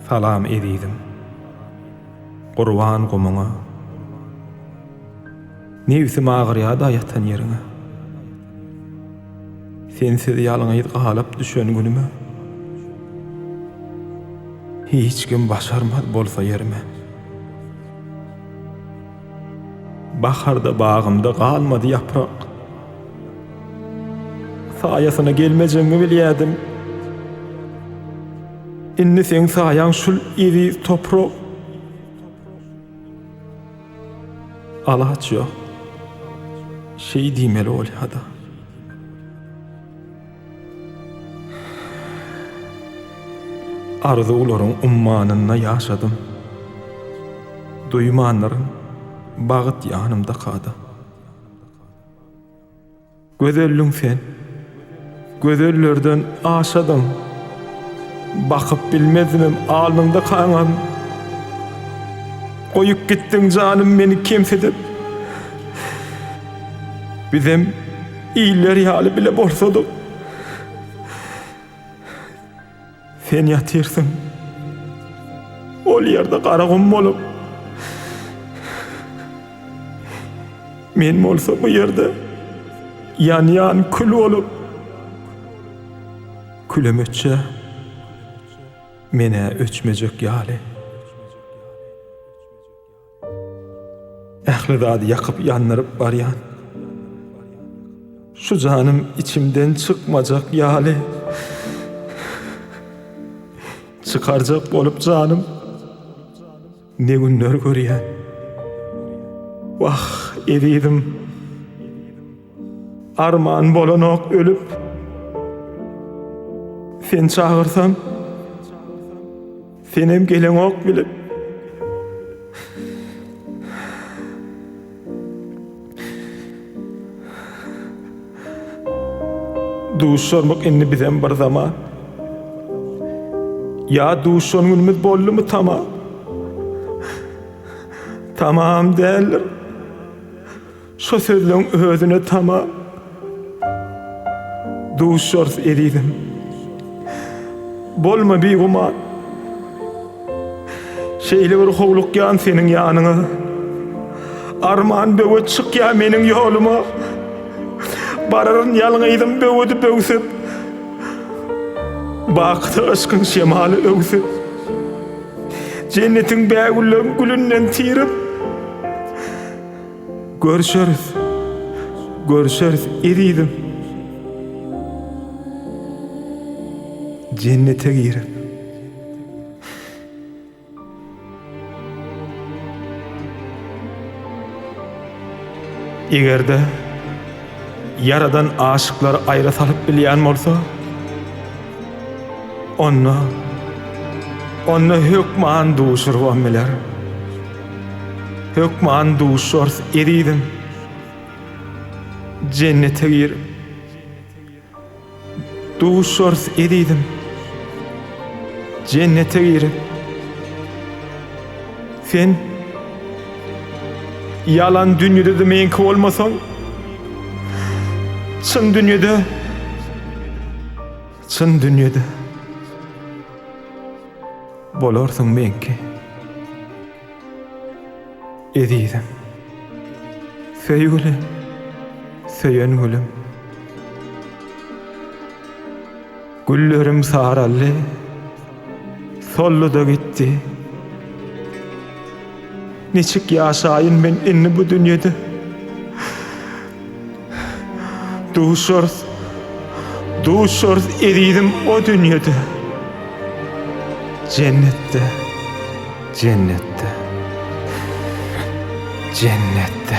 Salam ezizim. Gurban gumuňa. Nebsim agyrýada ýatan ýeriňe. Sensiz ýalňyz galyp düşen günüme, Hiç kim başarmaz bolsa ýerime. Baharda bagymda galmady ýaprak, Saýasyna gelmejegiňi bilýädim. Indi seň saýaň şul eziz toprak. Alaç ýok. Şeý diýmeli bolýa-da. Arzuwlaryň ummanynda ýaşadym. Duýmandyr, bagt ýanymda kada. Gözelliň sen, gözellerden aşadyň, Bakyp bilmezdim alnyňda kaňam. Goýup gitdiň janym meni kemsidip, Bizem iller ýaly bile bolsadyk. Sen ýatyrsyň. Ol ýerde gara gum bolup. Men bolsa bu ýerde ýanýan kül bolup. Külem öçse, men-ä öçmejek ýaly. Ähli zady ýakyp-ýandyryp barýan şu janym içimden çykmajak ýaly. Çykarjak bolup janym ne günler görýän. Wah, ezizim! Arman bolanok ölüp Sen çagyrsam Senem geleňok bilip Duşarmyk indi bizem bir zaman Ya duşan günümüz bolly mu tamam Tamam däldir Şo sözleň özüne tamam duşarys ezizim. Bolma bigüman. Şeýle bir howlukýan seniň ýanyňa. Arman böwet çykýa meniň ýoluma. Bararyn ýalňyzym böwedi böwsüp. Bakyda yşkyň şemaly öwsüp. Jennetiň bägülleň gülünden tirip. Görüşeris! Görüşeris ezizim! Jennete girin! Eger-de Ýaradan aşyklary aýra salyp bilýän bolsa, onda, onda hökman duşurybam biler. Hökman duşarys, ezizim. Jennete gir. Duşarys, ezizim. Jennete gir. Sen ýalan dünýede de meňki bolmasaň, çyn dünýede, çyn dünýede. Bolarsyň meňki, ezizim. Söýgüli, söýen gülüm. Güllerim saraldy, soldy-da gitdi. Niçik ýaşaýyn men indi bu dünýede? Duşarys, duşarys ezizim o dünýede. Jennetde, jennetde, jennetde.